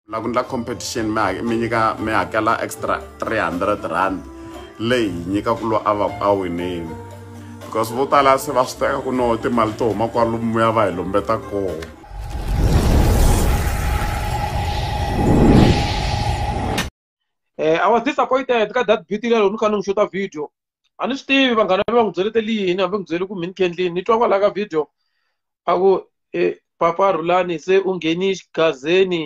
la ku endla competition mi nyika mi hakela extra 300 rand leyi hi nyika ku loyi a va ku a winile because vo tala se va swi teka ku no timali to huma kwalomu ya va hi lombeta koho Eh, I was disappointed ka that beauty lero ni kha ni n'wi xuta video a ni swi tivi vanghana va n'wi byelete liyini hambi n'wi byele ku mini kendlini ni twa kwalaho ka video a ku e papa rhulani se u ngheni xigazeni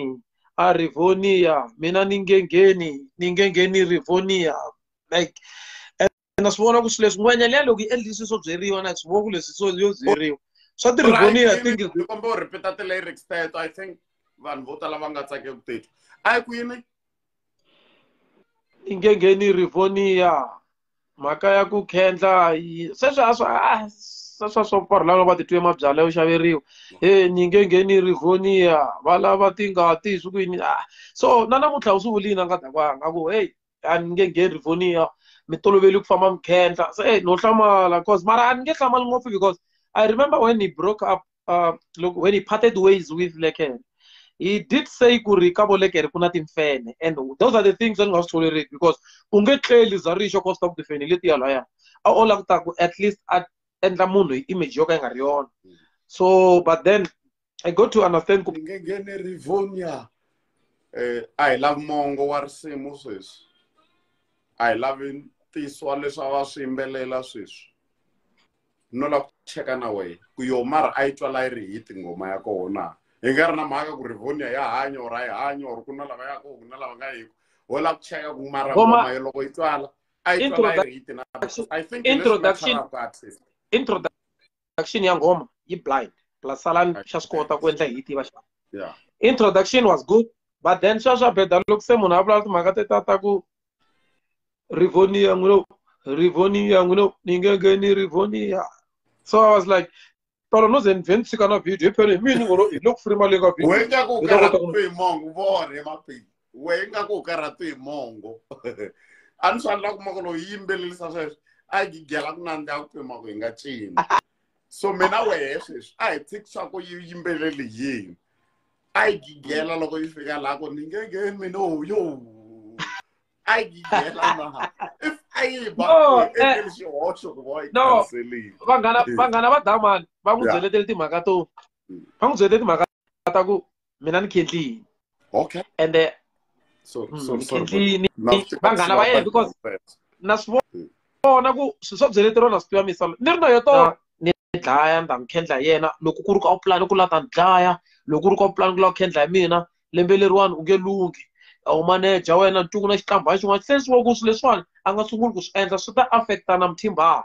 a rivonia mina ni nge ngheni ni nge ngheni rivonia like na swi vona ku swi leswi ngwenya liya loko yi endli swi swo byeriwa na swi vona ku leswi swo yo byeriwa swa tiriboniya i think ni kombe u repeat the lyrics teto i think vanhu vo tala va nga tsake ku teto a ku yini ingengeni rivoniya mhaka ya ku khendla yi sweswi a swa a sweswi a swa pfarhu lava va titwe mabyala yo xaveriwa e nyingengeni rivoniya va lava tingati swi ku yini a so na namuntlha u swi vulini a nga dakwanga a ku heyi a ni nge ngheni rivonia mi toloveli ku famba mi khendla se eh, no hlamala cause mara a ni nge hlamali ngopfu because i remember when he broke up uh, look, when he parted ways with lekere he did say ku ri ka volekere ku na timfene and those are the things that ni nga swi tolerate because u nge tleli za rixo cause ta ku tifeni letiya laya a o langutaku at least a endla munhu hi image yo ka yi nga ri yona so but then i got to understand ku nge nghene rivonia eh a hi lavi mongo wa risimu sweswi a hi lavi ntiso leswi a va swi yimbelela sweswi no lava ku cheka na wena ku yo mara a yi twala yi ri hi tinghoma ya kona hi nga ri na mhaka ku rivonia ya hanya or a yi hanya or ku na lava ya ku na lava nga yiko wo lava ku cheka ku mara ngoma yo loko yi twala a yi twala yi ri hi tina i think introduction introduction introduction ya ngoma yi blind plus salan xa swi kota ku endla hi yi tiva xa yeah introduction was good but then swa swa beda loko se munhu a vulavula timhaka te ta ta ku rivonia n'wi lo rivonia n'wi lo ni nge nge ni rivonia so i was like tolo no ze ni vhe ni tshika na video hi phele hi mini ngolo hi loko furi mali nga video wena ku Hi ta kota ku- kalakupe mongo vore mapeli we ingaku u karhati hi mongo a ni swanela kuma ku lowu yimbelelisa sweswi a yi gigela ku nandza ya ku pima ku hi nga cini so mina wehe sweswi a hi tshikisa ku yi yimbeleli yini a yi gigela loko yi fika laha ku ni ngenge mina yo a yi gigela na if a yi ba endleli xihoxo ku va yi kanselile vanghana vanghana va damani va n'wi byeletele timhaka to mm. va n'wi byeletele timhaka ta ku mina ni khetlini okay and uh, so, mm, so, so, khetlini vanghana va yena because na swi hmm. vona ku swi swo byeletero na swi tiva misolo ni ri na yo tona ni dlaya ndza n'wi khendla hi yena loko ku ri ka u pulani ku la ta ni dlaya loko ku ri ka u pulani ku la ku khendla hi mina lembe leriwani u nge lunghi u maneja wena ntungu na xitlambha xin'wana se swi wa ku swi leswiwani a nga sunguli ku swi endla swi ta affecta na muthimbaha